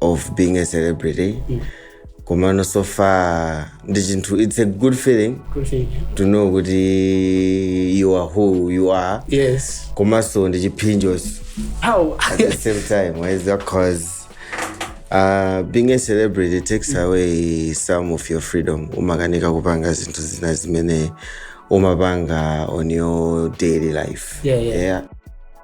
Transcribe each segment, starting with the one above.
of being a celebrity komano so far ndi chinthu it's a good feeling Good thing. to know kuti you are who you are Yes. komanso ndi chiphinjonso How? at the same time whereas because uh, being a celebrity takes away some of your freedom umakanika kupanga zinthu zina zimene umapanga on your daily life Yeah, yeah.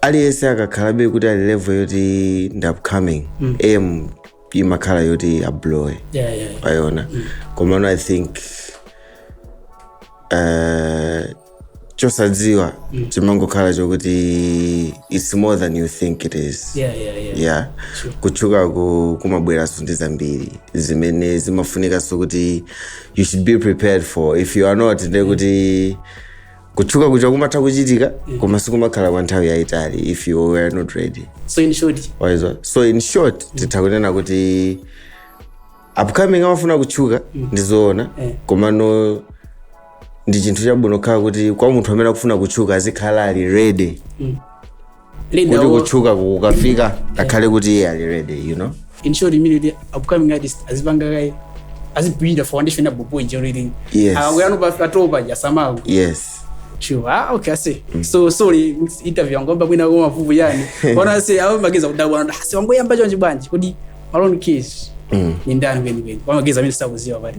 aliyense akakhalabe kuti ali level yoti ndi upcoming aim imakhala yoti ablowe yeah, yeah. wayona komano i think uh, chosadziwa chimangokhala chokuti its more than you think it is Yeah, yeah, yeah. yeah kutchuka ku- kumabweranso ndi zambiri zimene zimafunikanso kuti you should be prepared for if you are not ndekuti kutchuka kuja kumatha kuchitika koma sikumakhala kwa nthawi yayitali if you were not ready so in short waizo so in short titha kunena kuti upcoming amafuna kutchuka ndizoona Eh. komano ndi chinthu chabwino khala kuti kwa munthu amene akufuna kutchuka azikhala ali ready Linda, kuti oh, kutchuka kukafika akhale kuti iye ali ready you know in short imene kuti upcoming artist azipanga kaye azibuilda foundation abupo ijereling Yes. akuyano patopa jasamaku yes Sure. Ah, okay, I see. So sorry, interview yangu kwamba kwina kwa mavuvu yani. Wana say au mageza kudabwa wana. Asi wangu yamba chonje bwanji. Kodi Malone Kiss. Ni ndani kweli kweli. Kwa mageza mimi sitakuziwa bali.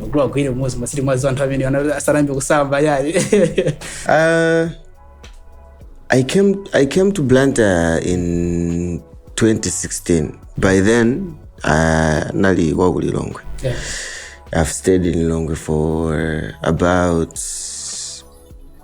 magulu agwire umodzi masiti mwazi anthu amene ana- asanayambe kusamba yayi Uh, I came I came to Blantyre in 2016. By then, uh, nali wa ku Lilongwe. Yeah. I've stayed in Lilongwe for about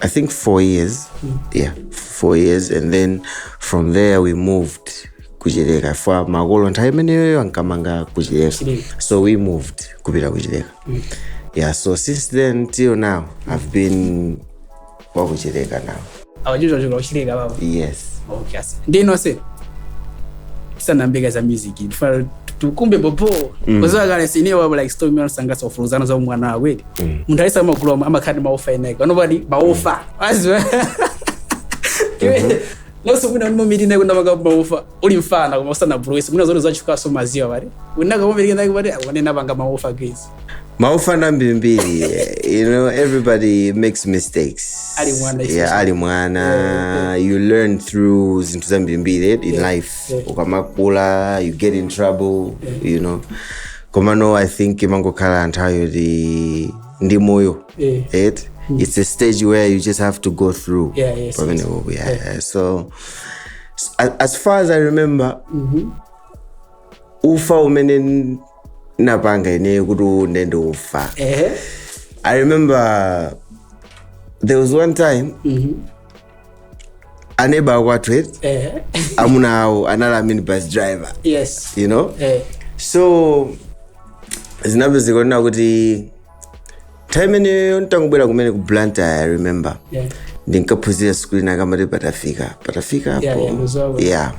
I think four years. Yeah, four years, and then from there we moved kuchileka for makolo nthawi imeneyoyo ankamanga kuchileka so we moved kupita kuchileka yeah so since then till now i've been wakuchileka now awajuzajuka uchileka baba yes okay ase ndinose tisanambeka za music tifana tukumbe popo kuzakale sine wabo like story mwana sangasa ofuruzana za umwana wawedi munthu ayesa magulu omwe amakhala ndi maofa eneka anopati maofa aziwa iwe nonse mwina unomirina kuna maka maofa uli mfana koma usana buluwisi mwina zote zachukaso maziwa pati unaka momirika nake pati akunena panga maofa guys maofa na ambirimbiri you know everybody makes mistakes Ali mwana, yeah, especially. ali mwana you learn through zinthu zambirimbiri in life ukamakula you get in trouble you know komano i think imangokhala nthawi yoti ndi moyo Yeah. it it's a stage where you just have to go through Yeah, yes, pamene yes. uku, yeah, yeah. so s- a- as far as i remember ufa umene n- napanga ine kuti unde ndi ufa Ehe. i remember there was one time aneba akwathu eti eh, amuna awo anali a minibus driver yes you know eh, so zinapezeka zoonena kuti nthawi imeneyo ntangobwera kumene ku blantyre i remember yeah. ndinkaphunzira sukulu ina akamati patafika patafika Yeah, apo yeah, muzawa. yeah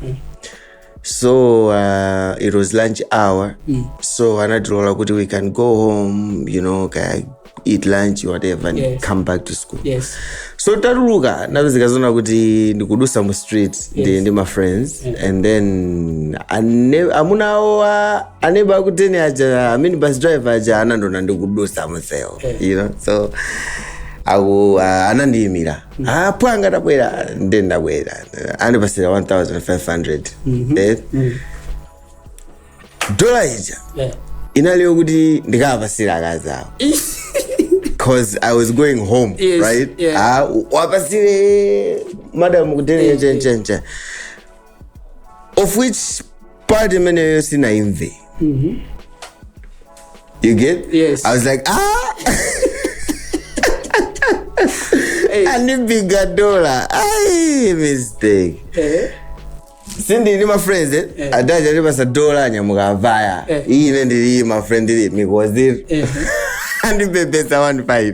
so uh, it was lunch hour mm. so anatilola kuti we can go home you know kaya eat lunch whatever and Yes. come back to school yes so tatuluka napezeka zoona kuti ndikudutsa mu street ndi, Yes. ndi ma friends and then ane- amuna awo a- aneba akuteni aja a minibus driver aja anandiona ndikudutsa mumsewu you know so aku uh, anandiyimira apo anga ndabwera nde ndabwera andipasira 1500 Eh, dola ija Eh. inaliyo kuti ndikawapasira akazi awo cause i was going home Yes, right yeah. Ah, wapasire madam kutenga chenjenje of which part imeneyo sinaimve you get Yes. i was like ah Hey. andibiga dola ai mistake Eh, sindi ndi mafriends eh? Eh. adaja alipasa dola anyamuka avaya Eh. iyi ine ndili mafriend ndili mikoziri eh. andibebesa 15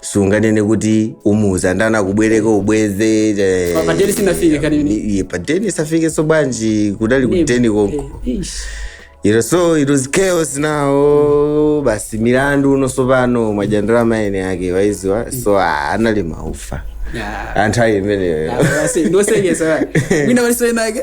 sunganene kuti umuuza ndani akubwereka ubweze eh, Pa- pa deni sunafike kani ine. iye pa deni safikanso bwanji kudali ku deni konko Eh, ish. You know, so it was chaos now basi milandu uno sopano mwa ndalama ene yake waidziwa so ah, anali maufa Yeah. anthawi imeneyo Yeah, basi, ndosengesa bani. Mina walisoyenake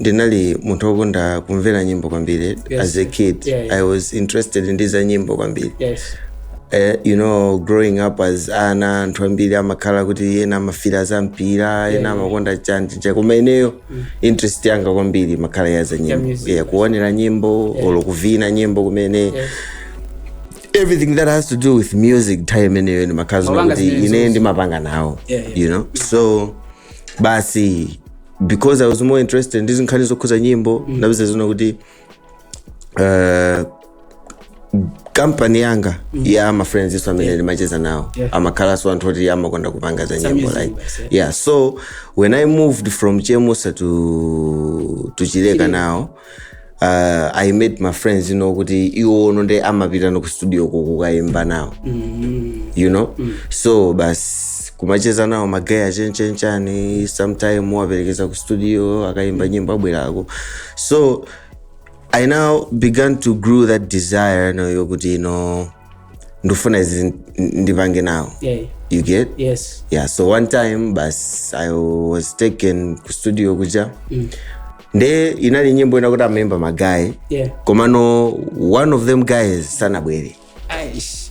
ndinali munthu wokonda kumvera nyimbo kwambiri yes. as a kid yeah, yeah. i was interested ndi za nyimbo kwambiri yes. Uh, you know growing up as ana anthu ambiri amakhala kuti ena amafira za mpira ena amakonda chanjija koma ineyo mm. interest yanga kwambiri imakhala ya za nyimbo yeah, yeah, kuonera nyimbo yeah. olo kuvina nyimbo kumene yes everything that has to do with music time ineyo ndimakhala zona kuti ine ndimapanga nawo yeah, yeah. you know so basi because i was more interested ndi zinkhani zokhuza nyimbo mm. ndinapezeka zoona kuti uh, kampani yanga mm. ya mafriends-nso amene ndimacheza nawo Yeah. amakhalanso anthu oti amakonda kupanga za nyimbo music like basi, yeah. yeah so when i moved from chemusa to, to chileka now uh, i made my friends you know kuti iwono nde amapita no ku studio ko kukaimba nawo you know so basi kumacheza nawo magaya achenchenchani sometime waperekeza ku studio akaimba nyimbo abwerako so i now began to grow that desire no yokuti you know ndikufuna izi n- ndipange nawo yeah. you get yes yeah so one time basi i was taken ku studio kuja mm. nde inali nyimbo inayake yoti amaimba magayi yeah komano one of them guys sanabwere Eish.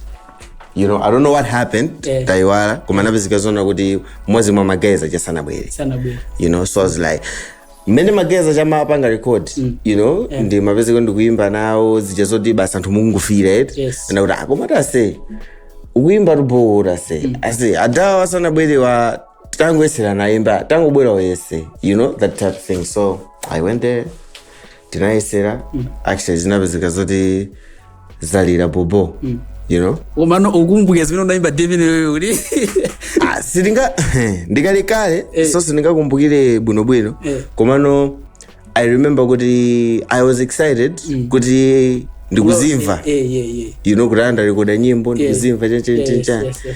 you know i don't know what happened Yeah. ndayiwala koma zinapezeka zoona kuti mmodzi mwa magayi aja sanabwere sanabwere you know so i was like mmene magayi aja amapanga record you know ndimapezeka ndikuyimba nawo zija zoti basi anthu mukungofila eti Yes. nde kuti ah koma iwe aise ukuyimba bobo tu aise aise adawa asanabwerewa tangoyesela nayimba tangobwera uyese you know that type of thing so i went there tinayesera actually zinapezeka zoti zalira bobo you know komano ukukumbukira zimene unaimba david wewe kuti Ah, sindinga ndi kalekale Eh. so sindingakumbukire bwinobwino Eh. komano i remember kuti i was excited kuti ndikuzimva Eh, eh, eh. you know kuti andirekoda nyimbo ndikuzimva Yes, yes, yes.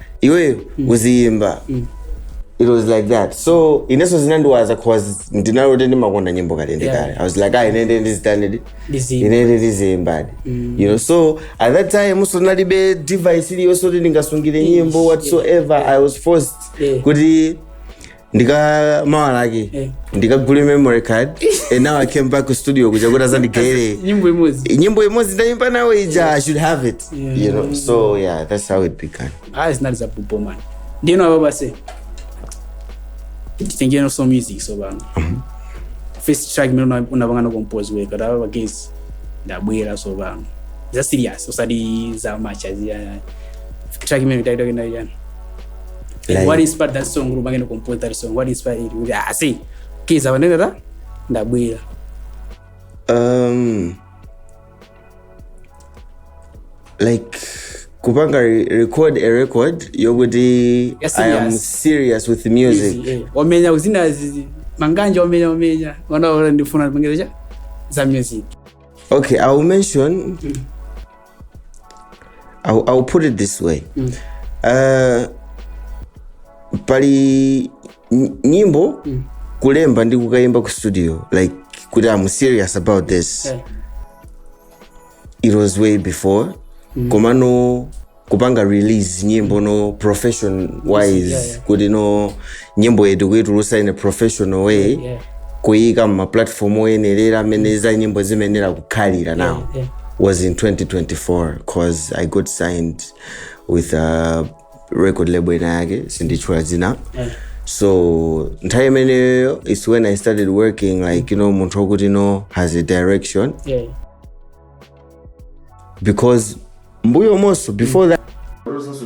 iweyo uziyimba it was like that so inenso zinandiwaza cause ndinali oti ndimakonda nyimbo kale ndi kale i was like ah ine nde ndizitani, ndi Ndiziyimba. ine nde ndiziyimbadi you know so at that time inenso ndinalibe device iliyonse kuti ndingasungire nyimbo whatsoever i was forced Yeah. kuti ndika mawa lake Eh. ndikagule memory card and now i came back to studio kuja kuti azandigayire nyimbo imodzi nyimbo imodzi ndayimba nawo ija i should have it Yeah. you know so yeah that's how it began ayi zinali za bobo man ndiyeno apapa aise titengeno so music so pano first track imene una- unapangana compose weka apapa guys ndabwera so pano za serious usati za macheza zija track imene taitokani ya chani Like, what inspired that song Ruba can compose that song what inspired it kuti ah see kiza wanene ta ndabwera um, like kupanga re- record a record yokuti Yes, i am yes. serious with music Easy, eh. wamenya kuzina zizi manganja wamenya wamenya wanaona ndifuna ndipengeza za music okay i will mention I'll, I'll put it this way uh, pali ny- nyimbo kulemba ndi kukayimba ku studio like kuti i'm serious about this Eh. it was way before koma no kupanga release nyimbo no profession wise Yeah, yeah. kuti no nyimbo yetu kuitulutsa in a professional way yeah, yeah. kuyika mumaplatform oyenerera amene za nyimbo zimayenera kukhalira yeah, now yeah. was in 2024 cause i got signed with a record label ina yake sinditchula dzina yeah. so nthawi imeneyo is when i started working like you know munthu wakuti you know has a direction yeah. because mbuyomonso before mm. that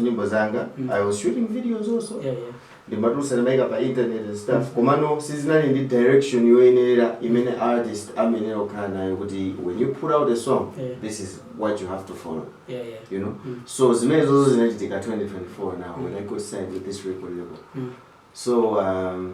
nyimbo zanga mm. i was shooting videos also yeah, yeah. ndimatulutsa ndimaika pa internet and stuff komano sizinali ndi direction yoyenerera imene artist amayenera kukhala nayo kuti when you put out a song Yeah. this is what you have to follow yeah yeah you know Mm. so zimenezo zo zinachitika 2024 now when i got signed with this record label Mm. so um,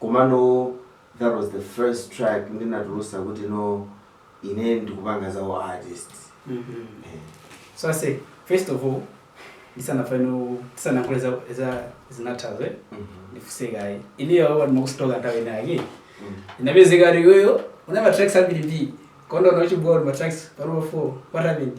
Komano that was the first track ndinatulusa kuti no ine ndikupanga za u artist. Eh. So I say, first of all, ndisanafune ndisanalankhule za za zinazo eh. Mhm. Ndifunse kaye. Ineyo poti ndimakustalka nthawi inayake. Mm. Zinapezeka kuti iweyo unali ndi ma tracks ambiri ndi. Koma wachita delete uli ndi ma tracks panopa 4. What happened?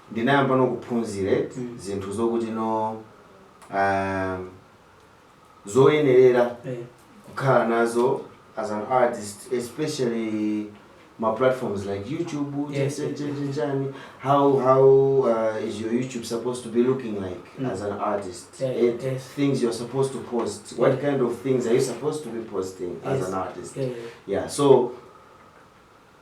Ndinayamba no kuphunziret zinthu zokuti no aah zoyenerera kukhala nazo as an artist especially ma platforms like YouTube cha chani how how aah is your YouTube supposed to be looking like as an artist et things you're supposed to post, what kind of things are you supposed to be posting as an artist yah so.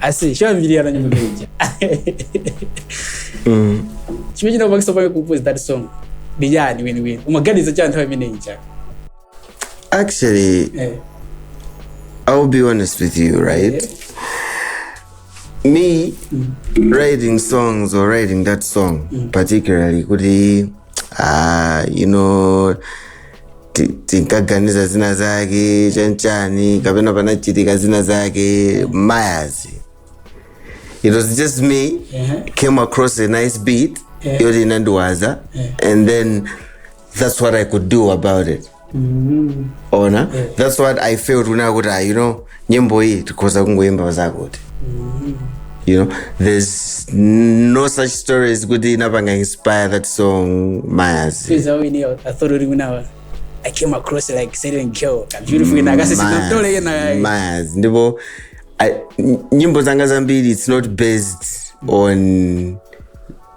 ase sho mbiri yana nyimbo meja Mm. chimwe china kubakisa pake compose that song ndijani wini wini umaganiza cha nthawi imene ija Actually, eh I'll be honest with you, right? Me writing songs or writing that song particularly, kuti, uh, you know, ti- tinkaganiza zina zake chanchani kapena panachitika zina zake mayazi it was just me came across a nice beat yoti inandiwaza and then that's what i could do about it ona that's what i felt when i could ah, you know nyimbo iyi tikhoza kungoyimba zakuti you know there's no such stories kuti inapanga inspire that song mayaz Because I already know, I thought already when I was, I came across it like Saturn Kill. A beautiful in Agassi. I'm still like, nah, mayaz ndipo I- n- nyimbo zanga zambiri it's not based on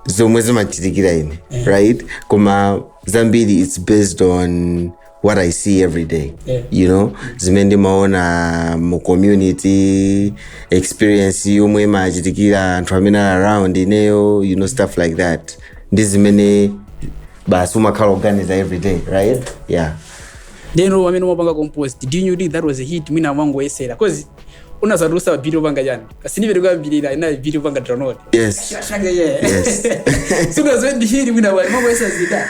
zomwe zimachitikira ine right koma zambiri it's based on what i see every day Yeah. you know zimene ndimaona mu community experience yomwe imachitikira anthu amene ali around ineyo you know stuff like that ndi zimene basi umakhala ukuganiza every day right yeah ndeno mmene umapanga compose did you know that was a hit mwina umangoyesera cause unatulutsa ambiri akupanga chani asinive tikuyambirira ina ambiri akupanga download yes Shaka, yeah. Yes. sunadziwe ndi hit mwina unali umangoyesa zida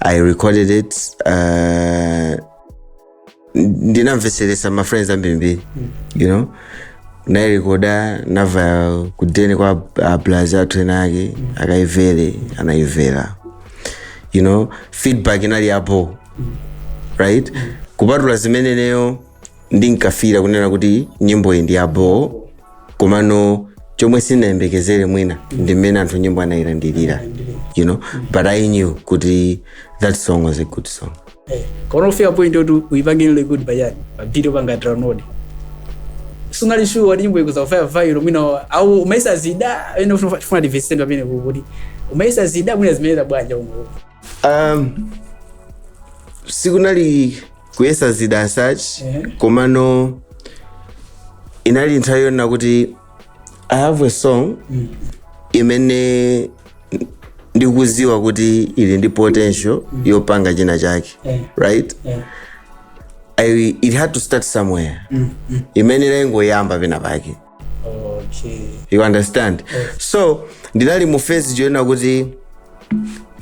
i recorded it uh, ndinamvetseretsa ma friends ambirimbiri you know ndairekoda ndabwera kudeni kwa ablazi athu ena ake akayimvere anayimvera you know feedback inali apo right kupatula zimenezo ineyo ndinkafila kunena kuti nyimboyi ndi yaboo komano chomwe sindinayembekezere mwina ndi mmene anthu nyimbo anayilandilira you know but i knew kuti that song was a good song koma kufika point yoti uyipange ile good payani ambiri akupanga download sunali sure kuti nyimbo ikhoza kupanga viral mwina au umaisa zida ene ufuna ufuna divestment pamene kuti umayesa zida mwina zimayenda bwanja umo um, sikunali kuyesa zida as such komano inali nthawi yonena kuti i have a song imene ndikuziwa kuti ili ndi potential yopanga china chake right I, it had to start somewhere imene inangoyamba pena pake okay you understand so ndinali mu phase yonena kuti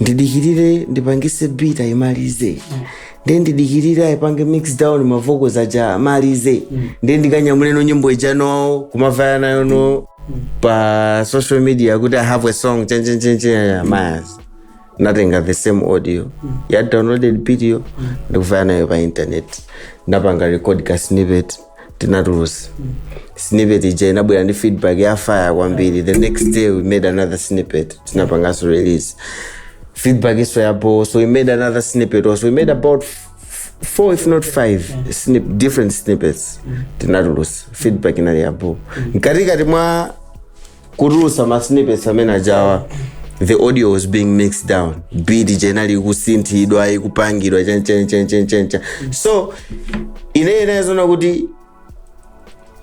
ndidikirire ndipangise beat ayimalize ndiye ndidikirire aipange mix down mavoko aja amalize ndiye ndikanyamuleno nyimbo ijano kumavaya nayo no pa social media kuti i have a song chanichanichani mayazi natenga the same audio ya downloaded video ndikuvaya nayo pa internet ndapanga record ka snippet tinatulusa snippet ija inabwera ndi feedback ya fire kwambiri the next day we made another snippet tinapanganso release feedback iso yapo so we made another snippet also we made about f- f- four if not five snip, different snippets tinatulusa feedback inali yapo mkatikati mwa kutulusa masnippets amene aja the audio was being mixed down beat ija inali ikusinthidwa ikupangidwa chanichanichani so ine inali yonena kuti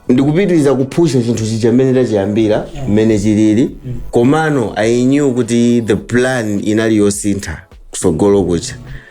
ndikupitiriza kuphusha chinthu chija mmene ndidachiyambira mmene chilili komano i knew kuti the plan inali yosintha kutsogolo kuja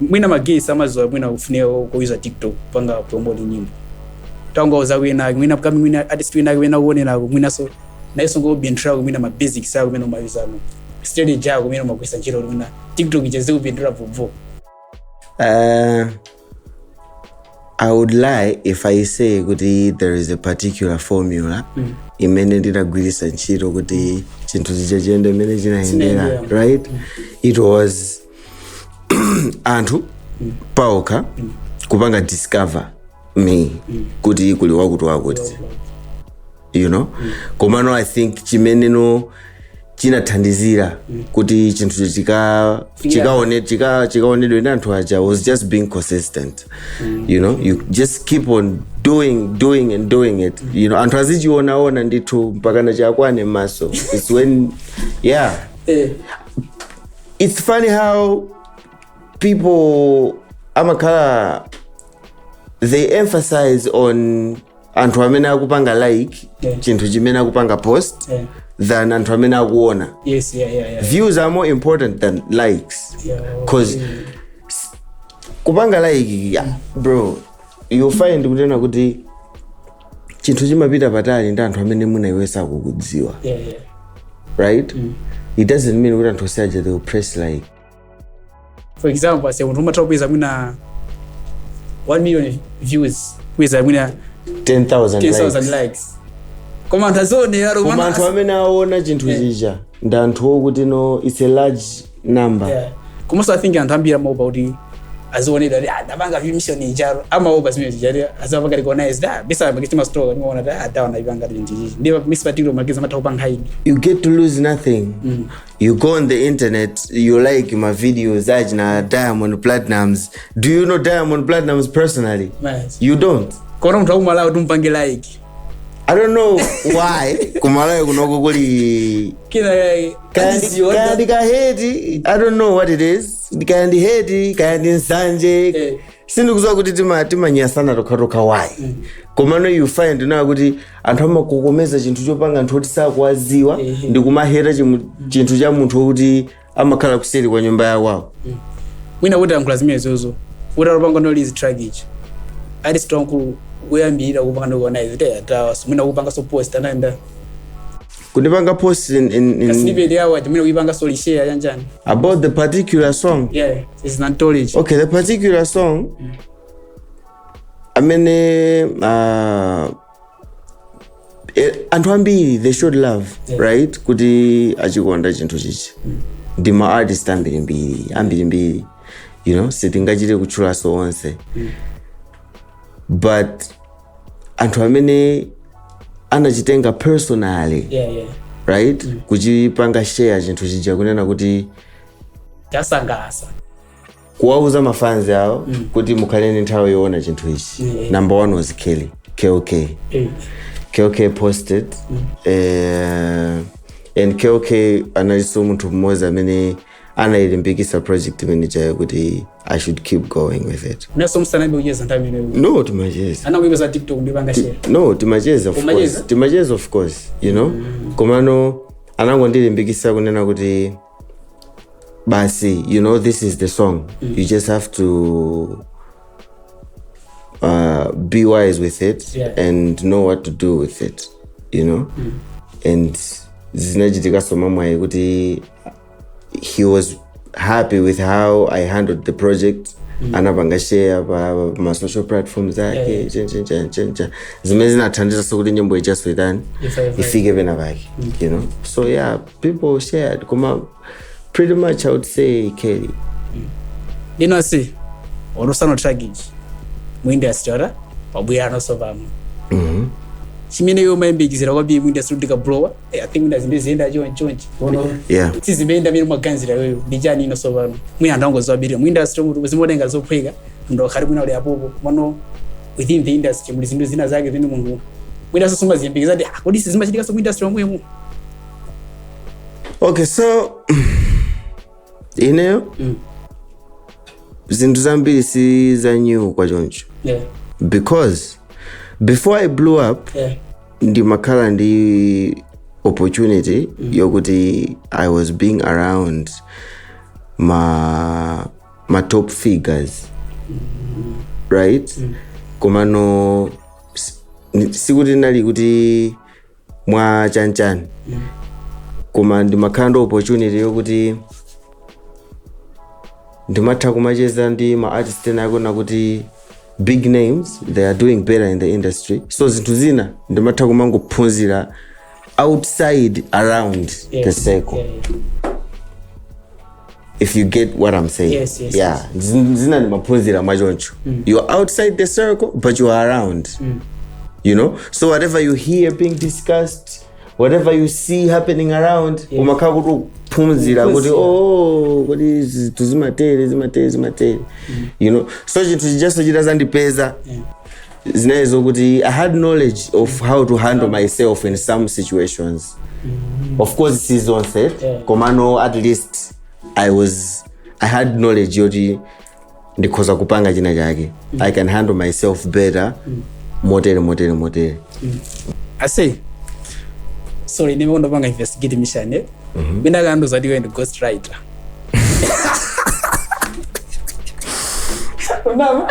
mwina magay samaziwa mwina kufunika kuuza tiktok kupanga promote nyimbo tangauza kwinake mwina kami mwina artist winake wina kuonenako mwinaso nayeso n'kupindulako mwina ma basics ako mwina umayuzamo strategy ako mwina umagwiritsa ntchito mwina tiktok icheze kupindira vovo Uh, I would lie if I say kuti there is a particular formula mm. imene ndinagwiritsa ntchito kuti chinthu chija chiyende mmene chinayendera Chinayendera. right it was anthu paokha kupanga discover me kuti kuli wakuti wakuti you know komano i think chimeneno chinathandizira kuti chinthu chika chikaone chika chikaonedwe ndi anthu aja was just being consistent you know you just keep on doing doing and doing it you know anthu azichionaona ndithu mpakana chiwakwane m'maso its when yeah Eh, it's funny how people amakhala they emphasize on anthu amene akupanga like Yeah. chinthu chimene akupanga post Yeah. than anthu amene akuona Yes, yeah, yeah, yeah. views are more important than likes Yeah, cause okay. kupanga like yeah, bro you find kutena kuti chinthu chimapita patali ndi anthu amene mwina iwe sakukudziwa yeah, yeah. right it doesn't mean kuti anthu onse aja they will press like for example aise munthu umatha kupeza mwina 1 million views kupeza mwina 10000 10000 likes likes koma anthu azionera koma anthu amene aona chinthu chija ndi anthu okuti no it's a large namba Yeah. komanso i think anthu ambiri amaopa kuti azionedwa kuti adapanga vimission icharo amaopa zimene zija kuti azapanga recognize da bisa pakiti masitolo kati maona da adaona ipanga kuti ndichichi ndiye misi patilo makizi amatha kupanga hide you get to lose nothing you go on the internet you like my videos achina diamond platinums do you know diamond platinums personally Yes. you don't koma munthu akumalawi timpange like i don't know why ku Malawi kunoko kuli kina kake kaya ndi- kaya ndi ka hate i don't know what it is kaya ndi hate kaya ndi nsanje Eh. sindikuziwa kuti tima- timanyasana tokhatokha why komano you find out kuti anthu amakokomeza chinthu chopanga anthu oti sakuwaziwa Ehe. ndi kumaheta chimu- chinthu cha munthu wokuti amakhala kuseri kwa nyumba yawawo mwina kuti alankhula zimenezozo kuti alopanga release track ichi ali strong ku kuyambira kupanga no kuona izi te atawa so mwina kupanga so post anaenda kundipanga post in, in, in, snippet yawo ati mwina kuipanga so share yanjani about the particular song yeah is not knowledge okay the particular song amene uh, eh, anthu ambiri they showed love right kuti achikonda chinthu chija ndi ma artist ambirimbiri ambirimbiri you know sitingachite kutchulaso onse but anthu amene anachitenga personally yeah, yeah. right kuchipanga share chinthu chija kunena kuti chawasangalasa kuwauza mafanzi awo kuti mukhale ndi nthawi yoona chinthu ichi Yeah. number one was kelly kok Eh, kok posted eh, and kok analinso munthu mmodzi amene anayilimbikisa project imene ijayo kuti i should keep going with it musanayambe kucheza nthawi imeneyo no timacheza anakuipa za TikTok ndipanga share no timacheza of Umacheza? course timacheza of course you know komano anangondilimbikisa kunena kuti basi you know this is the song mm. you just have to uh, be wise with it yeah. and know what to do with it you know mm. and zinachitikaso mamwayi kuti he was happy with how i handled the project mm. anapanga share pa masocial platforms ake yeah, yeah. zimene zinathandizaso kuti nyimbo ichaso itani ifike pena pake mm. you know so yeah people shared koma pretty much i would say kelly ndino si onosano challenge mu industry olo wabwera anonso pano chimene iwe umayembekezera kwambiri mu industry kuti ukalowa i think mwina zinthu ziyenda chonchonchi yeah sizimayenda mene umaganizira iweyo ndi chani inonso pano mwina anthu ambiri mu industry muti zimatenga zophweka ndikakhala mwina uli apopo komano within the industry muli zinthu zina zake zimene munthu mwinanso sumaziyembekeza kuti ah, kodi sizimachitikanso mu industry omwemo okay so ineyo Mm. zinthu zambiri si za new kwachoncho yeah because before i blew up yeah ndimakhala ndi opportunity yokuti i was being around ma ma top figures right komano s- ni- sikuti nali kuti mwa chanichani koma ndimakhala ndi opportunity yokuti ndimatha kumacheza ndi ma artist ena akuona kuti big names they are doing better in the industry so zinthu zina ndimatha kumangophunzira outside around the circle if you get what i'm saying Yes, yes, yeah Zin- zina ndimaphunzira mwachoncho you're outside the circle but you are around you know so whatever you hear being discussed whatever you see happening around Yes. umakhala kuti ukuphunzira kuti Ukuphunzira. oh kodi zinthu zimatero zimatero zimatero you know so chinthu chijaso chitazandipeza Yeah. zinali zokuti i had knowledge of how to handle myself in some situations of course si zonse komano at least i was i had knowledge yoti ndikhoza kupanga china chake i can handle myself better motere motere motere ase sorry ndime kundopanga investigate mission eh mina kandu zati iwe ndi ghost writer unama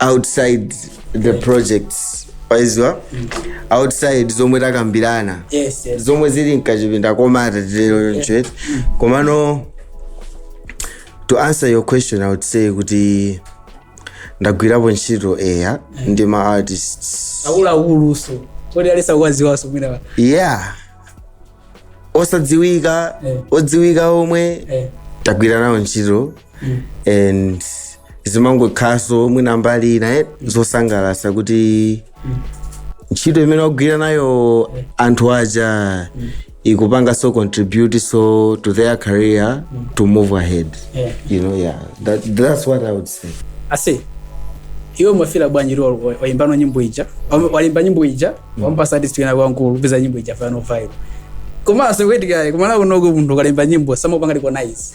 outside the projects waziwa outside zomwe takambirana yes yes zomwe zili mkachipinda komata tilero nchet komano to answer your question i would say kuti ndagwirapo ntchito eya ndi ma artists akuluakuluso kodi alesa kuwaziwaso mwina yeah osadziwika Eh. odziwika omwe eh. tagwira nawo ntchito and zimangokhalanso mwina mbali ina eh, zosangalatsa kuti ntchito imene wagwira nayo anthu aja ikupanganso contribute so to their career to move ahead Yeah. you know yeah that, that's what i would say ase iwe umafila bwanji ri waimbano nyimbo ija Wam- walemba nyimbo ija wampatsa artist wina wamkulu peza nyimbo ija fano vibe komanso kuitikale kumana kunoku munthu ukalemba nyimbo samupanga recognize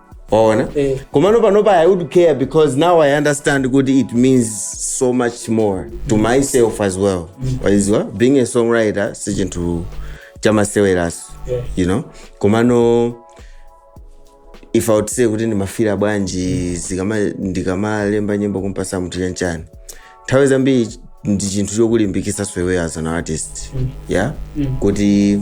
waona Eh. komano panopa i would care because now i understand kuti it means so much more to myself as well waziwa being a songwriter si chinthu chamaseweranso Yeah. you know komano if i would say kuti ndimafira bwanji zikama- ndikamalemba nyimbo kumpatsa munthu chanchani nthawi zambiri ndi chinthu chokulimbikitsa iweyo as an artist yeah kuti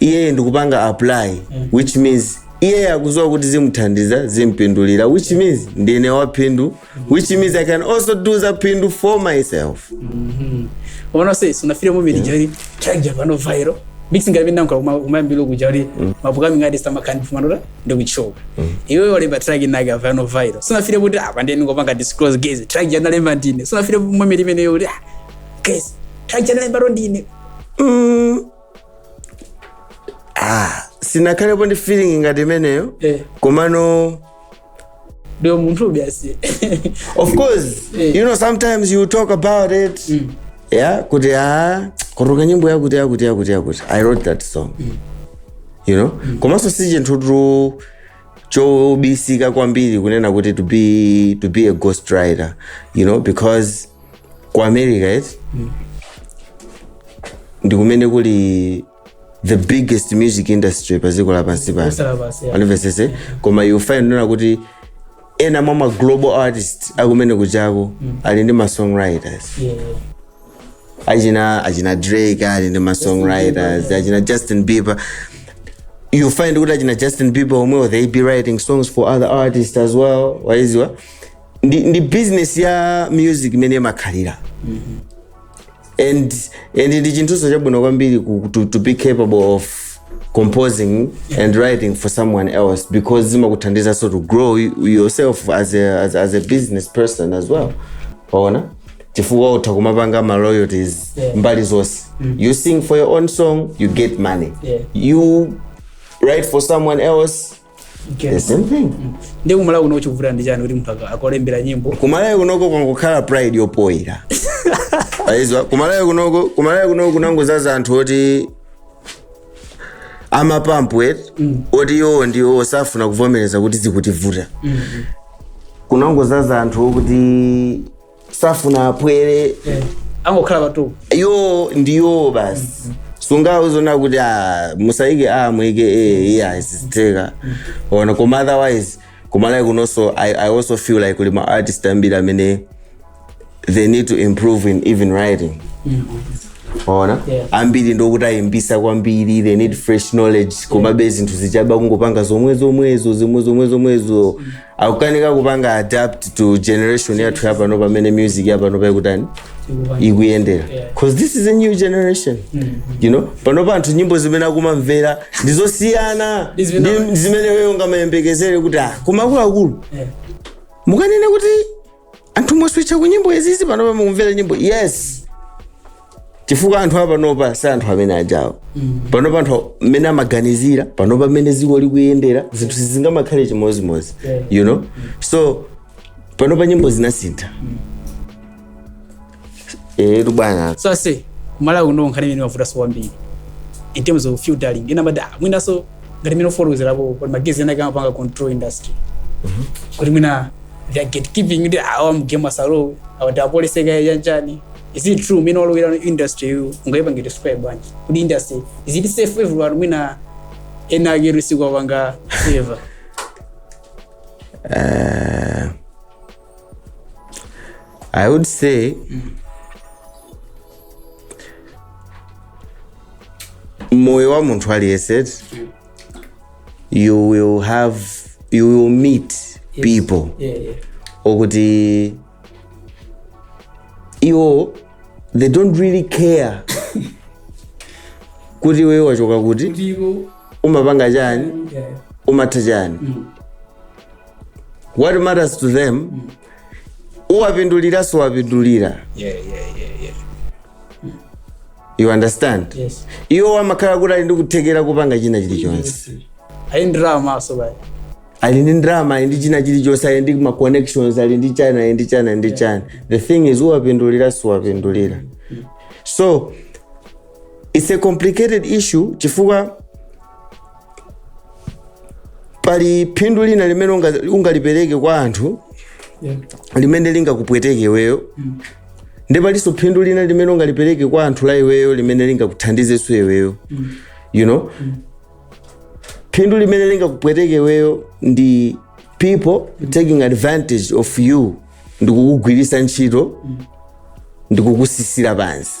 iyeyo ndikupanga apply which means iyeyo akuziwa kuti zimuthandiza zimpindulira which means ndine waphindu which means i can also do za phindu for myself uona se sunafire mu mirija ri chanja vano viral mixing gabe nangu kuma kuma mbilo kujari mapuka mingadi sama kandi fumanura ndo kuchoka iwe wale batragi naga vano viral sunafire kuti apa ndeni ngopanga disclose guys track jana lemba ndine sunafire mu mirija mene yori guys track jana lemba ro ndine Mm, ah, sindinakhalepo ndi feeling ngati imeneyo Eh. komano ndi umunthu basi of course Eh. you know sometimes you talk about it yeah kuti ah kuruka nyimbo yakuti yakuti yakuti yakuti i wrote that song you know komanso si chinthutu chobisika kwambiri kunena kuti to be to be a ghost writer you know because ku america eti ndi kumene kuli the biggest music industry pa dziko lapansi pano Kusala basi, yeah. anivesese koma you find kunena kuti ena mwa ma global artist akumene kujako ali ndi ma songwriters Yeah, yeah. achina achina drake ali ndi ma songwriters achina justin bieber you find kuti achina justin bieber omwewo they be writing songs for other artists as well waziwa ndi, ndi business ya music imene imakhalira and and ndi chinthunso chabwino kwambiri ku, to, to be capable of composing and writing for someone else because zimakuthandizanso to grow you- yourself as a, as, as a business person as well waona chifukwa utha kumapanga ma royalties Yeah. mbali zonse you sing for your own song you get money Yeah. you write for someone else Okay. the same thing ndi kumalawi kuno chikuvuta ndi chani kuti munthu aka- akulembere nyimbo kumalawi kunoko kwangokhala pride yopoira ayise kumalawi kunoko kumalawi kunoko kunangozaza anthu oti amapampu eti oti iwowo ndiwo safuna kuvomereza kuti zikutivuta kunangozaza anthu okuti safuna aphwere angokhala pa top iwo ndiwo basi sungawauzenso kuti ah, musayike a muyike e ayi sizitheka waona koma otherwise koma like kunonso I, i also feel like kuli ma artist ambiri amene they need to improve in even writing waona Yeah. ambiri ndi okuti ayimbitsa kwambiri they need fresh knowledge komabe zinthu zachabe kungopanga zomwe zomwezo zomwe zomwe zomwezo akukanika kupanga adapt to generation yathu yapano pamene music yapano paikutani ikuyendera cause this is a new generation you know panopa anthu nyimbo zimene akumamvera ndizosiyana Ndi zimene- ndi zimene iweyo ungamayembekezere kuti ah koma akuluakulu mukunena kuti anthu mwaswitcha ku nyimbo izizi panopa mukumvera nyimbo yes chifukwa anthu apanopa si anthu amene aja panopa anthu mmene amaganizira panopa mmene dziko likuyendera zinthu sizingamakhale chimodzimodzi you know so panopa nyimbo zinasintha etu bwana so aise kumalawi kuno nkhani imene imavutanso kwambiri in terms of feuding ena amada mwinanso ngati mmene wafotokozerapo kuti magaizi ena akumapanga control industry kuti mwina they are gatekeeping kuti awa mgame asalowe awati apolisi kaye yanjani is it true mwina walowera industry yi ungaipange describe bwanji kuti industry is it safe everyone mwina ena akulu sikuwapanga favor i would say moyo wa munthu aliyense you will have you will meet people yeah, yeah. okuti iwo they don't really care kuti iweyo wachoka kuti ndipo umapanga chani yeah. umatha chani what matters to them uwapindulira suwapindulira Yeah, yeah, yeah, yeah. you understand Yes. iwo wamakhala kuti ali ndi kuthekera kupanga china chilichonse Ayi ndalama aso baya. ali ndi ndalama ali ndi china chilichonse ali ndi ma connections ali ndi china ali ndi china ali ndi china the thing is uwapindulira suwapindulira so it's a complicated issue chifukwa pali phindu lina limene unga- ungalipereke kwa anthu Yeah. limene lingakupweteke iweyo ndi palinso phindu lina limene ungalipereke kwa anthu la iweyo limene lingakuthandizenso iweyo you know phindu limene lingakupweteke iweyo ndi people taking advantage of you ndikukugwiritsa ntchito ndikukutsitsira pansi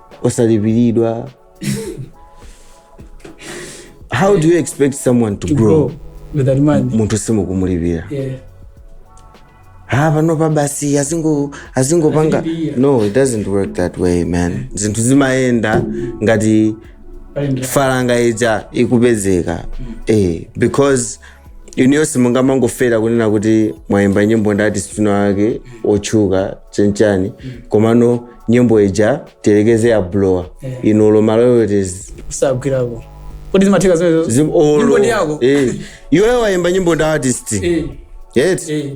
osalipiridwa how do you expect someone to, to grow, grow with that money munthu simukumulipira yeah ha ah, panopa basi azingopanga azingo no it doesn't work that way man zinthu zimayenda ngati falanga ija ikupezeka mm. eh, because inuyo simungamangofera kunena kuti mwayimba nyimbo ndi artist inawake otchuka chanichani komano nyimbo ija tiyerekeze yablowa inu olo ma royalties osagwirako kodi zimatheka zimenezo Zim- olo. Nyimbo ndi yako? Eh. iweyo wayimba nyimbo ndi artist Eh, yet eh.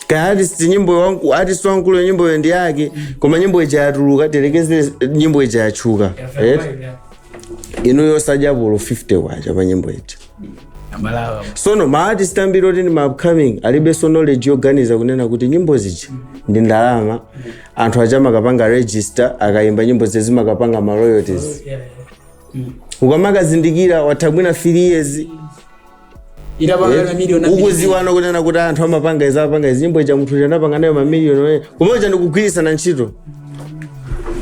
kaya artist nyimbo wangu artist wankulu nyimboyo ndi yake koma nyimbo ija yatuluka tiyerekeze nyimbo ija yatchuka yet inuyo osadyapo olo 50 kwacha pa nyimbo ija amalawa sono maartist ambiri oti ndi maupcoming alibenso knowledge yoganiza kunena kuti nyimbo zija ndi ndalama anthu aja amakapanga register akayimba nyimbo zija zimakapanga ma royalties ukamakazindikira patha mwina 3 years itapangana miliyoni ukudziwano kunena kuti anthu amapanga izi amapanga izi nyimbo ija munthu uja anapanga nayo mamiliyoni komwe kuja ndikugwiritsana ntchito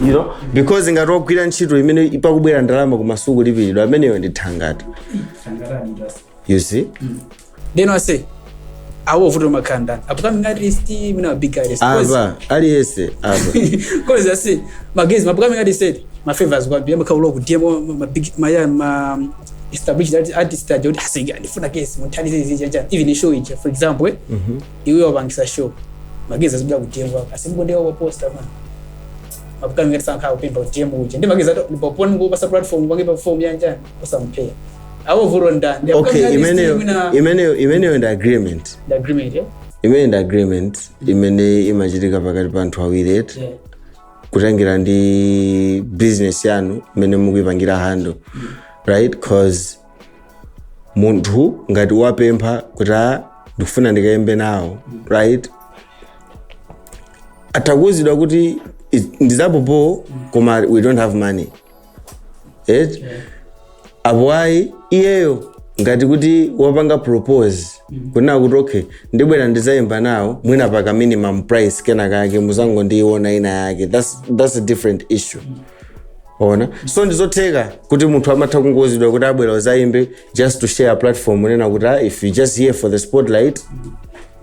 you know because ngati wagwira ntchito imene pakubwera ndalama koma sukulipiridwa ameneyo ndi thangata you see then i say ayo vuto makanda upcoming artist mina wa big artist Cause- apa aliyense apa cause i say magezi upcoming artists and ma favors kwa bia maka uloku demo ma big ma ya ma established artist aja kuti asika ndifuna kesi munthandize izi chacha even show ija for example eh, iwe wapangitsa show magezi azibula kutengwa asimkondewa kwa poster man mapukano ngati sankhala kupemba kutiyemba uja ndi magezi ato ndipoponi kupatsa platform kuti ake perform yanja osampeya awo vuto nda ndi okay apukano imeneyo mwina imeneyo imeneyo ndi agreement the agreement eh imene ndi agreement imene imachitika pakati pa anthu awiri eti yeah kutengera ndi business yanu mmene mukuipangira handle right cause munthu ngati wapempha kuti "Ah, ndikufuna ndikayimbe nawo" right atakuuzidwa kuti ndi za popo koma we don't have money eti apo ayi iyeyo ngati kuti wapanga propose kunena kuti okay ndibwera ndizayimba nawo mwina paka minimum price kena kake muzangondiona ina yake that's, that's a different issue ona so ndizotheka kuti munthu amatha kungouzidwa kuti ah bwera uzayimbe just to share a platform kunena kuti ah, if you just here for the spotlight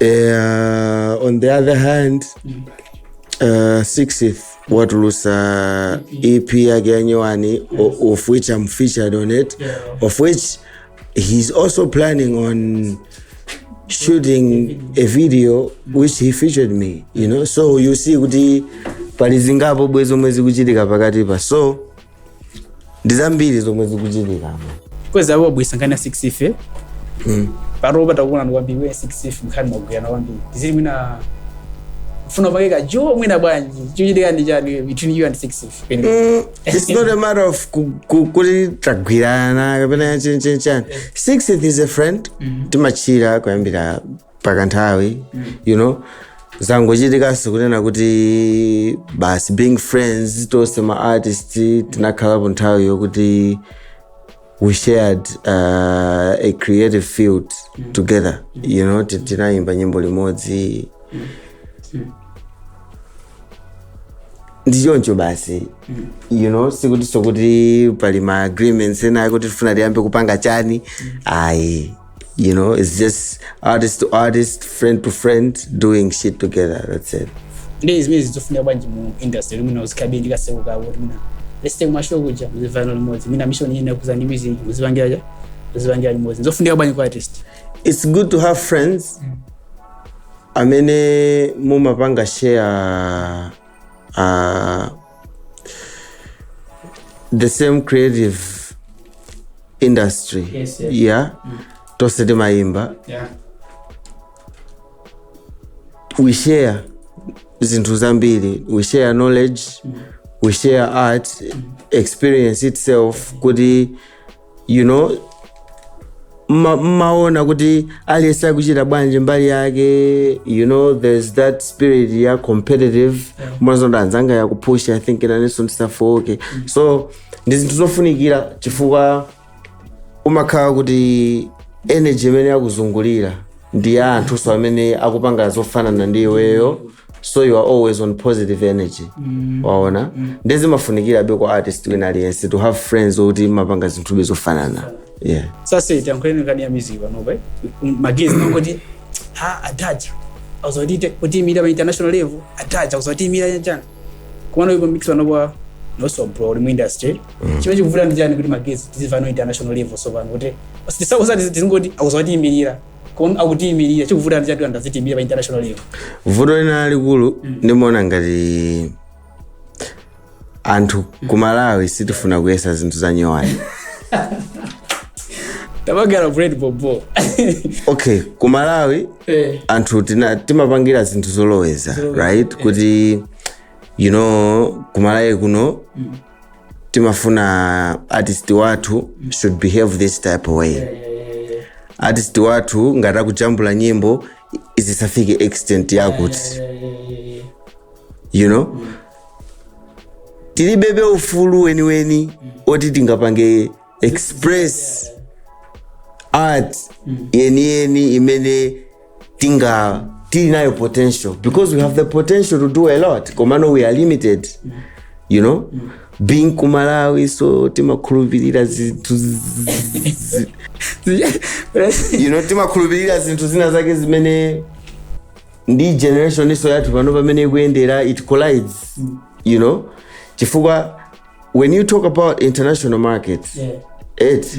Eh, on the other hand uh, sixth watulusa ep yake yanyowani o- of which i'm featured on it of which he's also planning on shooting a video which he featured me you know so you see kuti pali zingapo bwezi omwe zikuchitika pakati pa so ndi zambiri zomwe zikuchitika apa kweza akubweretsa nkhani ya 6 ife Mm. pano tikukuonani kwambiri 6 ife mukakhala mumagwirana kwambiri zili mwina funa pake ka jo mwina bwanji chikuchitika ndi chani between you and 6 ife pende Mm, it's not a matter of ku- ku- kuti tagwirana kapena chinchinchani 6 is a friend timatchila kuyambira pakanthawi you know zangochitikaso kunena kuti basi being friends tonse ma artist tinakhalapo nthawi yokuti we shared uh, a creative field together you know ti- tinayimba nyimbo limodzi ndi choncho basi you know sikutinso kuti pali ma agreements ena akuti tifuna tiyambe kupanga chani ayi You know, it's just artist to artist, friend to friend, doing shit together. That's it. ndi zimene nzofunika bwanji mu industry mwina muzikhalabe ndi kasewu kawo kuti mwina let's take mashow kuja muzimvana limodzi mwina mission yina kuza ndi music muzipangira kaya muzipangira limodzi zofunika bwanji kwa artist It's good to have friends. Amene mumapanga share uh, the same creative industry Yes, yes. yeah tonse timayimba yeah we share zinthu zambiri we share knowledge we share art experience itself kuti you know mma- mmaona kuti aliyense akuchita bwanji mbali yake you know there's that spirit ya competitive umaona kuti anzanga akupusha i think nanenso ndisafooke so ndi zinthu zofunikira chifukwa umakhala kuti energy imene yakuzungulira ndi ya anthunso amene akupanga zofanana ndi iweyo so you are always on positive energy waona nde zimafunikirabe kwa artist wina aliyense to have friends okuti mumapanga zinthube zofanana yeah sasa itankweni kani ya miziva nobe magezi ngoti ha atacha azodite kuti mira ba international level atacha azoti mira yachana kumano ipo mix wanobwa no so bro mu industry chimwe chikuvuta ndi chani kuti magezi tizivano international level so vanhu kuti sasa usati tizingoti azoti mirira kon akutiyimirira chikuvuta ndi chatu angazitiimire pa international level vuto lina lalikulu ndimaona ngati anthu ku malawi sitifuna kuyesa zinthu zanyowani tabagala bread bobo okay ku malawi eh anthu tina- timapangira zinthu zozolowera right kuti you know kumalawi kuno timafuna artist wathu should behave this type of way artist wathu ngati akujambula nyimbo zisafike extent yakuti you know tilibebe ufulu weniweni woti tingapange express art yeniyeni imene tinga tili nayo potential because we have the potential to do a lot komano we are limited you know being ku malawi so timakhulupirira zinthu zi- zi- you know timakhulupirira zinthu zina zake zimene ndi generation iso yathuyi pano pamene ikuyendera it collides you know chifukwa when you talk about international markets Yeah. it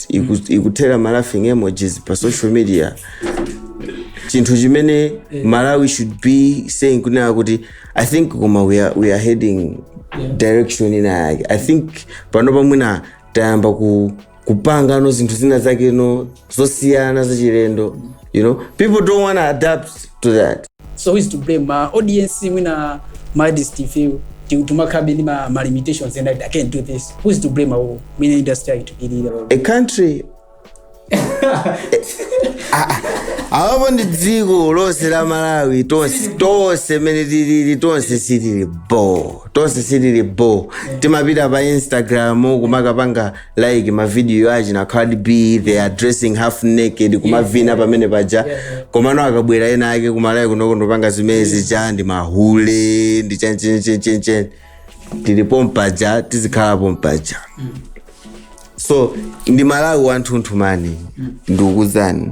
iku- ikuthera ma laughing emojis pa social media chinthu chimene amalawi should be saying kunena kuti i think koma we are, we are heading direction ina yake i think pano pamwina tayamba ku kupangano zinthu zina zakeno zosiyana zachilendo you know people don't want to adapt to that so who is to blame ma audience mwina ma artist ife ti- timakhalabe ndi ma, ma limitations and i can't do this who is to blame awo mwina industry aikutilira a country awapo ndi dziko lonse la malawi tonse tonse mene tilili tonse sitili bo tonse sitili bo timapita pa instagram kumakapanga like mavidiyo achina Cardi B they are dressing half naked kumavina pamene paja komano akabwera ena ake kumalawi kunoko ndikupanga zimenezi ncha ndi mahule ndi chanchenchenchenchen tili pompaja tizikhala pompaja so ndi malawi wathunthu man ndikuuzani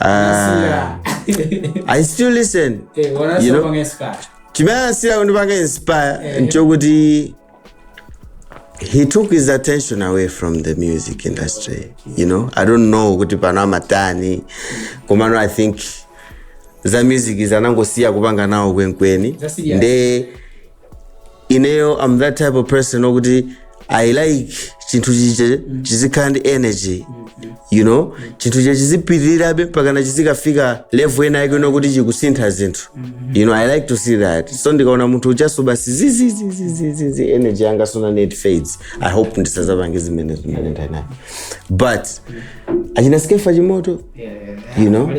Ah. I still listen. Eh, wana You know? sopanga inspire. chimene chinasiya kundipanga inspire Eh. nchokuti he took his attention away from the music industry you know i don't know kuti pano amatani komano i think za music zanangosiya kupanga nawo kwenikweni Zasiyana. nde ineyo am that type of person okuti i like chinthu chija chizikhala ndi energy you know chinthu chija chizipitirirabe mpakana chizikafika level ina yake yokuti chikusintha zinthu you know i like to see that so ndikaona munthu ujanso basi zizizizizizi energy yanga sona net fades i hope ndisazapange zimenezi mene ndanayo but achina skeffa chimoto you know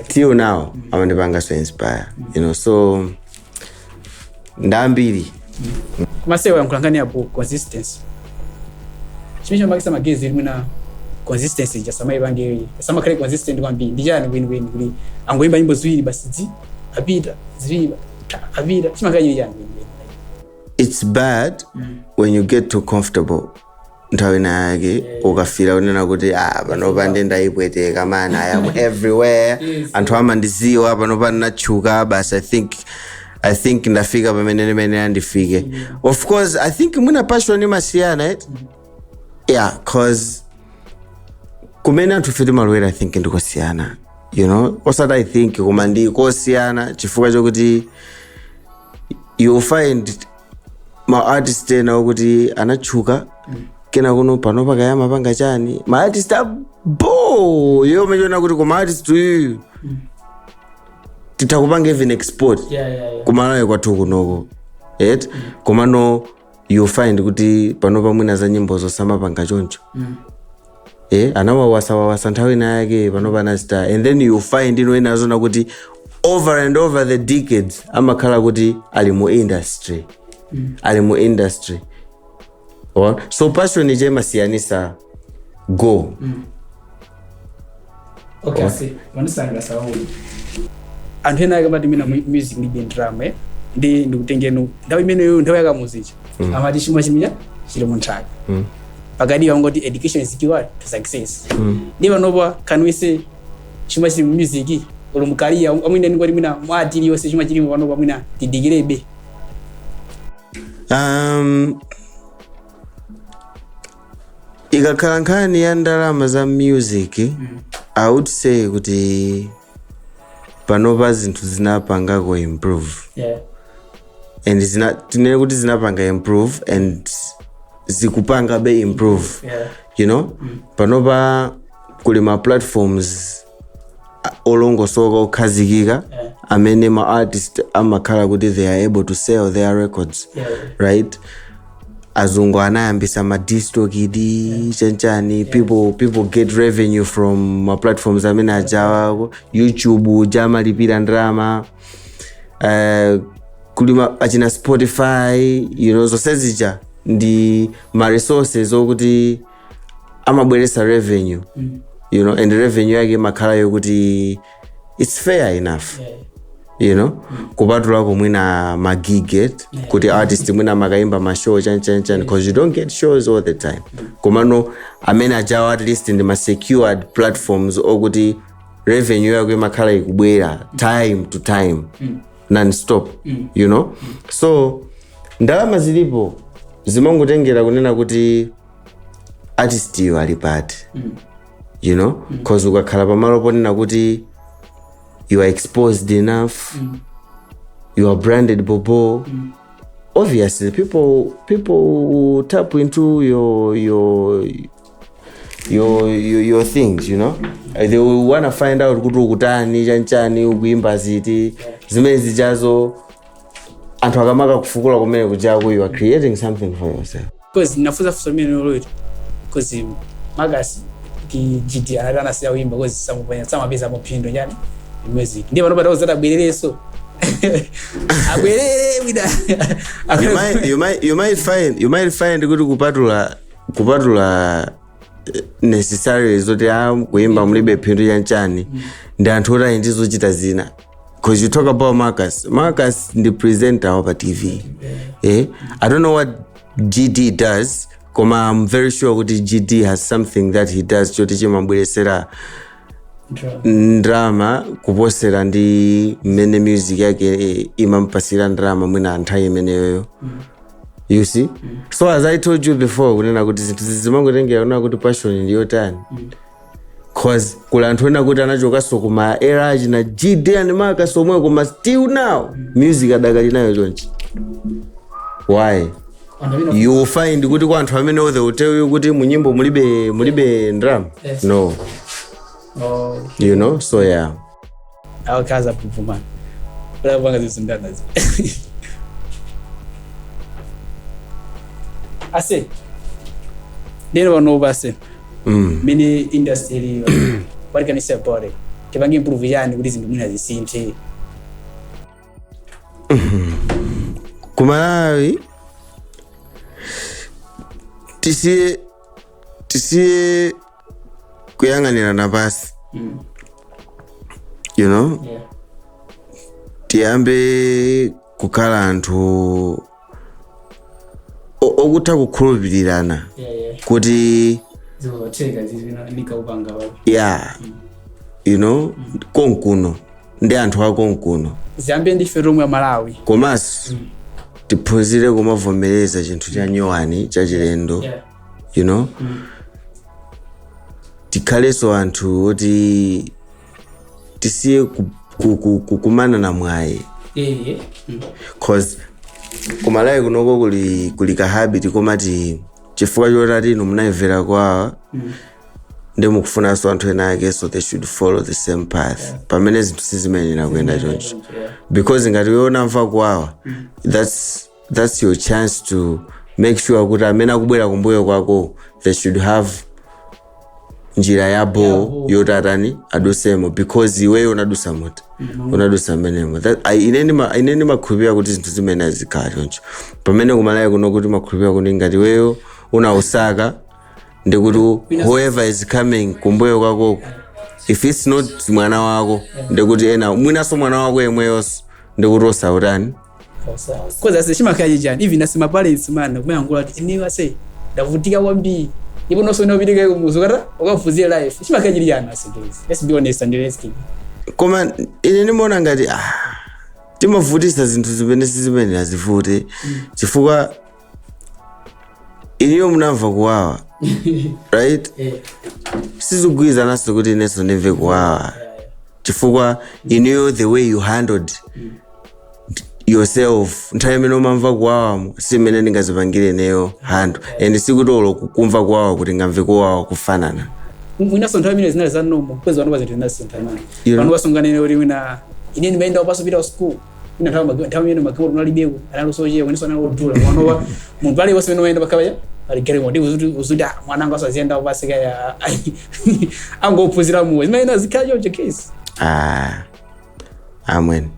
till now amandipanganso inspire you know so ndi ambiri mwayankhula nkhani ya consistency chimene chimachititsa magazi mwina consistency ija samaipanga samakhala consistent kwambiri ndi chani kwenikweni kuti angoyimba nyimbo ziwiri basi zii apita ziwiri ta, apita chimakhala chili chani kwenikweni it's bad when you get too comfortable nthawi ina yake ukafika kunena kuti ah, panopa nde ndaipweteka man i am everywhere anthu amandiziwa panopa ndinatchuka basi i think i think ndafika pamene ndimayenera ndifike of course i think mwina passion imasiyana et yeah cause kumene anthufe timalowera i think ndikosiyana you know osati i think koma ndi kosiyana chifukwa chokuti you'll find ma artist ena okuti anatchuka kenako panopa kaya amapanga chani ma artist abho yo umachiona kuti koma artist uyu titamupanga even export Yeah, yeah, yeah. kumalawi kwathu kunoko et komano you find kuti panopa mwina za nyimbo zo samapanga choncho eh anawawasawawasa nthawi ina yake panopa anazitaya and then you find ena umaona kuti over and over the decades amakhala kuti ali mu industry ali mu industry Wa- so passion ija imasiyanitsa go okay ase pandisangalatsa wauli anthu ena akamati mina mu- music ndi bendrama eh? ndi ndikutengenu nthawi imeneyo nthawi ya Kamuzu ija Mm. amati chuma chija chili munthaka Mm. pakatika ankati education is key word to success Mm. nde panopa can we say chuma chili mu music olo mukadali mwina ndingoti mwina mu art iliyonse chuma chilimo panopa mwina tidikirebe um, ikakhala nkhani ya ndalama za music i would say kuti panopa zinthu zinapangako improve yeah. and zina, tinene kuti zinapanga improve and zikupangabe improve yeah. you know panopa kuli ma platforms olongosoka okhazikika amene ma artist amakhala kuti they are able to sell their records right azungu anayambitsa ma DistroKid chanchani people people get revenue from ma platforms amene ajawo youtube uja amalipira ndalama uh, kuli ma- achina Spotify you know zonsezija ndi ma resources okuti amabweretsa revenue you know and revenue yake imakhala yokuti its fair enough you know kupatulako mwina ma gig eti kuti artist mwina amakayimba mashow chanchanchani because you don't get shows all the time komano amene ajawo at least ndi ma secured platforms okuti revenue yako imakhala ikubwera time to time nonstop you know so ndalama zilipo zimangotengera kunena kuti artist yu ali pati you know cause ukakhala pamalo ponena kuti you are exposed enough you are branded bobo obviously people people will tap into your your your your, your things you know Uh, they will wanna find out kuti ukutani chanchani ukuimba ziti zimene zijazo anthu akamaka kufukula kumene kuja kuti you are creating something for yourself because ndinafunsa funso limenelo because Marcus ndi GD anati anasiya kuyimba because samupanya samapeza phindu chani music ndiye pano patawo zati abwererenso abwerere wina you might, you might, you might find you might find kuti kupatula kupatula eh, necessarily zoti kuyimba mulibe phindu chanchani ndi anthu oti ali ndi zochita zina because you talk about Marcus. Marcus ndi presenter wa pa TV. Eh? I don't know what GD does, koma I'm very sure kuti GD has something that he does. Choti chimamubweretsera ndrama kuposera ndi mmene music yake eh, imampatsira ndrama mwina nthawi imeneyoyo you see so as i told you before kunena kuti zinthu zimangotengera kunena kuti passion ndiyotani cause kuli anthu ena oti anachokanso kuma era achina GD ndi Marcus omwe koma still now music adakali nayo chonchi why you will find kuti kwa anthu amene they will tell you kuti munyimbo mulibe mulibe ndram Yes. no Oh. you know so yeah awakazi apupuma lapanga zisindanazi ase ndeno panopa ase Mm. mene industry iliyo what can you say about it tipange improve chani kuti zinthu mwina zisinthe ku malawi tisiye tisiye kuyang'anirana pansi Mm. you know Yeah. tiyambe kukhala anthu o- okutha kukhulupirirana Yeah, yeah. kuti Zikatheka zizina ndikaupanga wapi. ya you know konkuno ndi anthu a konkuno Ziyambe ndife tomwe Malawi. komanso tiphunzire kumavomereza chinthu cha nyowani chachilendo Yeah. you know tikhalenso anthu oti tisiye ku- ku- ku- kumanana mwayi Eh, mm. cause ku Malawi kunoko kuli kuli ka habit komati chifukwa choti ati inu munayimvera kuwawa ndi mukufunanso anthu enaake they should follow the same path pamene zinthu sizimayenera kuyenda choncho Yeah. because ngati iwe unamva kuwawa that's thats your chance to make sure kuti amene akubwera kumbuyo kwako they should have njira ya boo yoti atani, adusemo because iweyo unadusa mmuti unadusa mmenemo That- I- ine ndima- ine ndimakhulupirira kuti zinthu zimayenera zizikhala choncho pamene ku Malawi kuno kuno timakhulupirira kuti ngati iweyo unausaka ndikuti whoever is coming kumbuyo kwakoko if its not mwana wako ndikuti ena mwinaso mwana wako yemweyonso ndikuti ausaketani kuuza ase chimakhala chichani even ase ma parents amana kumayankhula kuti ineyo ase ndavutika kwambiri nde iponso nawenso upite kumudzi ukatani ukaphunzire life chimakhala chili chiyani ase guys let's be honest and let's keep koma ine ndimaona ngati ah, timavutisa zinthu zimene sizimayenera zivute chifukwa inuyo munamva kuwawa right Eh, sizikugwirizananso kuti inenso ndimve kuwawa chifukwa inuyo the way you handled yourself nthawi imene umamva kuwawamo si imene ndingazipangire ineyo handle and sikuti olo kumva kuwawa kuti ndingamve kuwawa kufanana mwinaso nthawi imene zinali za inuyo mukuona ndi panopa zinthu zinasinthana You know- pano pa sunganene kuti mwina ine ndimayenda wapansi popita ku school ine nthawi magi- nthawi imene magalimoto analibeko anali ochepa komanso anali odula panopa munthu aliyense amene wayenda pakhapacha ali galimoto nde uziti uziti ah, mwana anga aziyenda wapansi kaya angophunzira moyo zimayenera zikhale choncho ase ah. amwene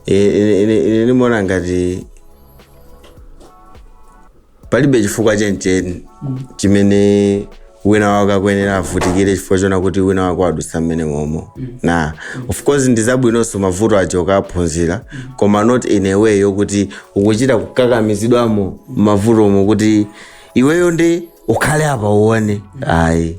ine ine- ine ndimaona ngati palibe chifukwa chenicheni chimene wina wake akuyenera avutikire chifukwa chonena kuti wina wake wadutsa mmene momo na of course ndi zabwinonso mavuto aja ukaphunzira koma not in a way yokuti ukuchita kukakamizidwamo mavutomo kuti iweyo nde ukhale apa uone ayi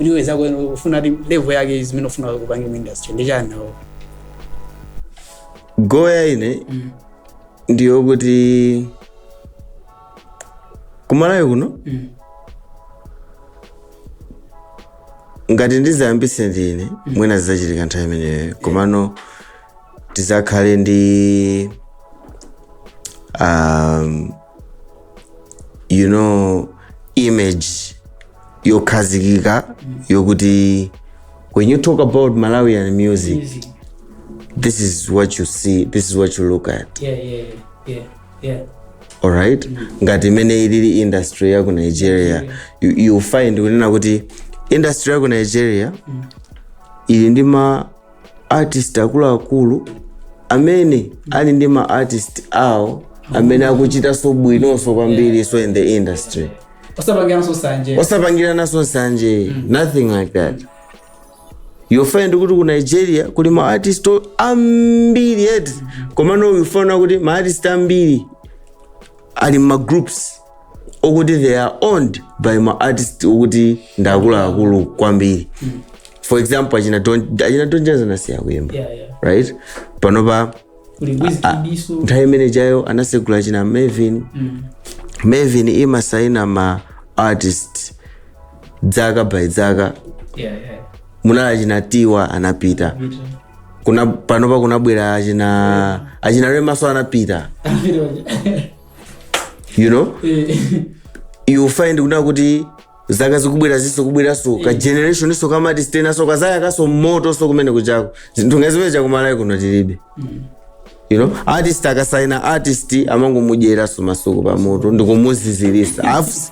Anyway, zako eno ufuna ati level yake zimene ufuna kupanga mu industry ndi chani now. goal ya ine ndiyo kuti kumalawi kuno ngati ndizayambise ndine mwina zizachitika nthawi imeneyo komano tizakhale ndi um, you know image yokhazikika yokuti when you talk about malawian music Music. this is what you see this is what you look at Yeah, yeah, yeah, yeah. alright ngati imene ilili industry yaku nigeria you, you find kunena kuti industry yaku nigeria ili ndi ma artist akuluakulu amene ali ndi ma artist awo amene akuchitanso bwinonso kwambiri so in the industry osapangiranso sanje osapangirananso nsanje nothing like that you find kuti ku nigeria kuli ma artist o- ambiri eti komano you find kuti ma artist ambiri ali mma groups okuti they are owned by ma artist okuti ndi akuluakulu kwambiri for example achina Don- achina Don Jazzy anasiya kuyimba Yeah, yeah. right panopa Kuli Wizkid iso. nthawi imene chayo anasegula achina mavin mavin imasaina ma artist dzaka by dzaka Yeah, yeah. munali achina tiwa anapita Vita. kuna panopa kunabwera achina achina remaso anapita Vita. you know you find kuna kuti zaka zikubweraziso kubweraso ka generation iso ka ma artist enaso kazayakaso moto so kumene kuchako zinthu ngaziwere chakumalawi kuno tilibe you know artist akasaina artist amangomudyeraso masuku pamutu ndikumuzizirisa Af-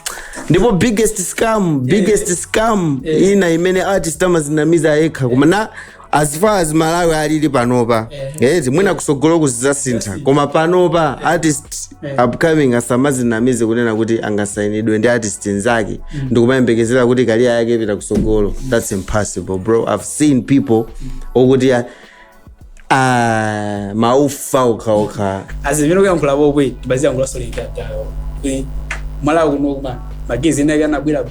ndipo biggest scam biggest scam ina imene artist amazinamiza yekha koma na as far as malawi alili panopa eh, mwina kusogolo kuzizasintha koma panopa artist upcoming asamazinamize kunena kuti angasainidwe ndi artist nzake ndikumayembekezera kuti career yake ipita kusogolo that's impossible bro i've seen people okuti ah, ah, maufa okhaokha azimene kuyankhula bobwe tibaziyankhula solidatayo kuti malawi kuno kuna ma guys ena ake anabwera bo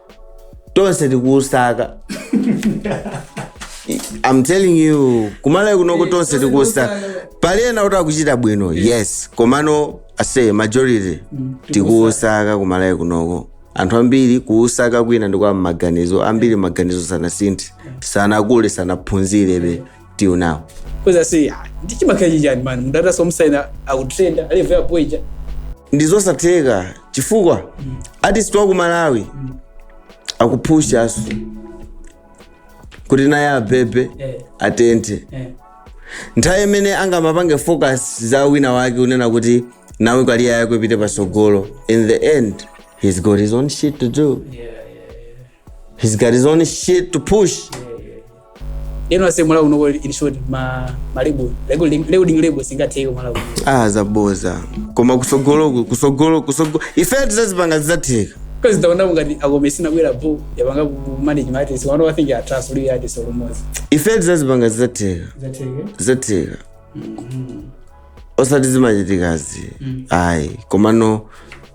tonse tikuusaka I'm telling you kumalawi kunoko tonse tikuusaka pali ena kuti akuchita bwino yes komano ase majority tikuusaka kumalawi kunoko anthu ambiri kuusaka kwina ndi kwa maganizo ambiri maganizo sanasinthe sanakule sanaphunzirebe till now kweza si ah, ndi chimakhala chichani mani mudata somusaina akutrenda alive yapo ija ndizosatheka chifukwa artist wa ku malawi akupushaso kuti naye abebe Eh. atenthe eh. nthawi imene angamapange focus za wina wake unena kuti nawe kaliya yako ipite pasogolo in the end he's got his own shit to do yeah, yeah, yeah. he's got his own shit to push yeah. lero ase malawi unoko in short ma ma label label label label singatheke malawi ah zaboza koma kusogoloku kusogolo kusogolo ife tizazipanga zizatheka because taona ngati akometsi inabwera bo yapanga ku manage ma artist wano i think ya trust uli artist almost ife tizazipanga zizatheka zatheke zizatheka osati zimachitikazi Mm. ayi komano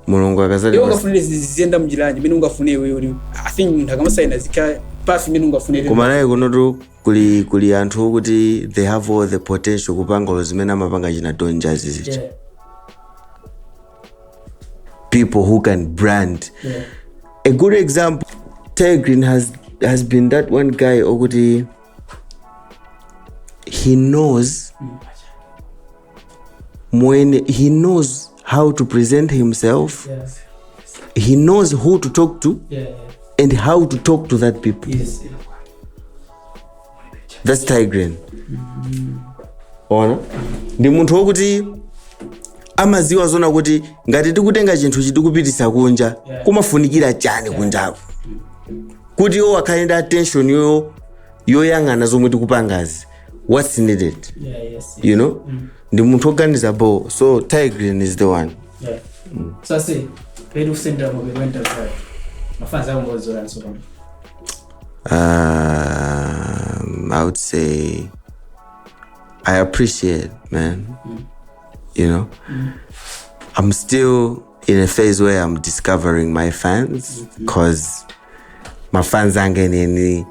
mulungu iwe ukamati ungafunire ziziyenda m'njira mene ungafunire iwe uli i think munthu akamasaina zikhala pansi mene ungafunire koma naye kunotu kuli kuli anthu okuti they have all the potential kupanga lo zimene amapanga china donjazi zicha Yeah, people who can brand yeah. a good example Tay Green has has been that one guy okuti he knows when he knows how to present himself yes. he knows who to talk to yeah, yeah. and how to talk to that people yes, yeah. that's Tay Grin mm-hmm. ndiye ndi munthu wokuti amaziwa zona kuti ngati tikutenga chinthu chi tikupititsa kunja kumafunikira chani kunjako kuti iwo akhale ndi attention yo yoyang'ana zomwe tikupangazi what's needed Yeah, yes. you know ndi munthu oganiza bo so Tay Grin is the one Yeah. um, i would say i appreciate man you know i'm still in a phase where I'm discovering my fans because mafans anga enieni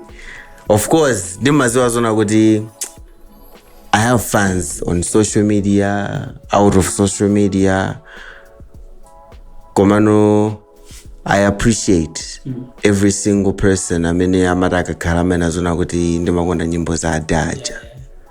of course ndimaziwa zona kuti I have fans on social media, out of social media. Komano, I appreciate every single person amene amati akakhala amanena zoona kuti ndimakonda nyimbo za adaja.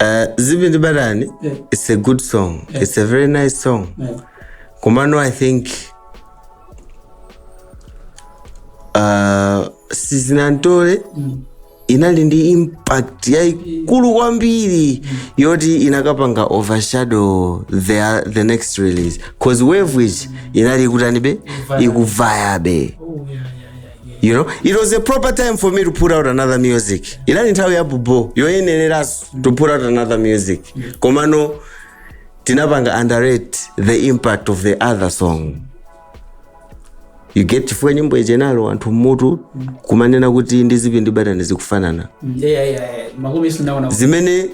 Uh, zipi ndi batani Yeah. it's a good song Yeah. it's a very nice song Yeah. komano i think uh, sinantole inali ndi impact yaikulu kwambiri yoti inakapanga overshadow the, the next release cause wave which inali ikadalibe ikuvayabe you know it was a proper time for me to put out another music inali nthawi ya bhobho yoyenerera to put out another music komano tinapanga underrate the impact of the other song you get chifukwa nyimbo ichenalo anthu mmutu kumanena kuti ndi zipi ndi batani zikufanana Yeah, yeah, yeah. Makumi sinaona. zimene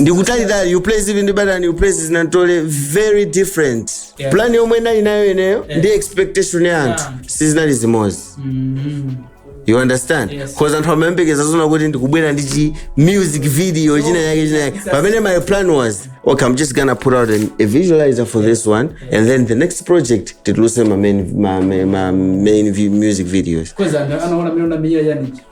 ndikutalitali you place zipi ndi batani you place sinantole very different Yeah. plan yomwe ndinali nayo ineyo ndi expectation ya anthu Yeah. sizinali zimodzi you understand Yes. cause anthu amayembekeza zona kuti ndikubwera ndi chi music video china yake china yake pamene my plan was okay i'm just gonna put out an, a visualizer for this one and then the next project titulutse ma main, ma, ma, ma main vi- music videos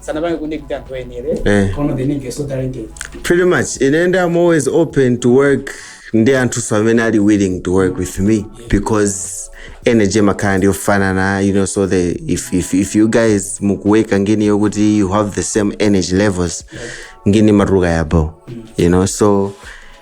sanapange connect anthu oyenere Eh. koma the nigga is so talented pretty much ine ndi i'm always open to work ndi anthunso amene ali willing to work with me because energy imakhala ndi yofanana you know so the, if, if, if you guys mukuwekera ngini yokuti you have the same energy levels ngini imatuluka yabho you know so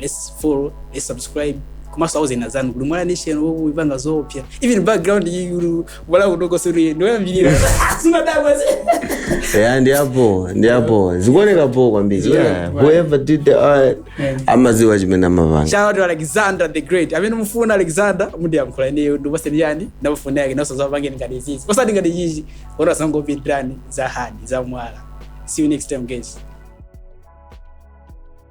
let's follow let's subscribe komanso auzeni azanu kuti mwana nation ikupanga zoopsa even background yulu wala kutoko suri ndoyambirira simadabwa yeah, ndi yabho ndi yabho zikuoneka bho kwambiri Zikuoneka yeah. bho. whoever did the art Yeah. amadziwa chimene amapanga shout out to alexander the great amene mufuna alexander mundiyankhule ineyo ndikupatseni yani nambala yake nanunso adzakupangireni ngati izizi osati ngati chichi kuti asangopitirani za hadi za mwala see you next time guys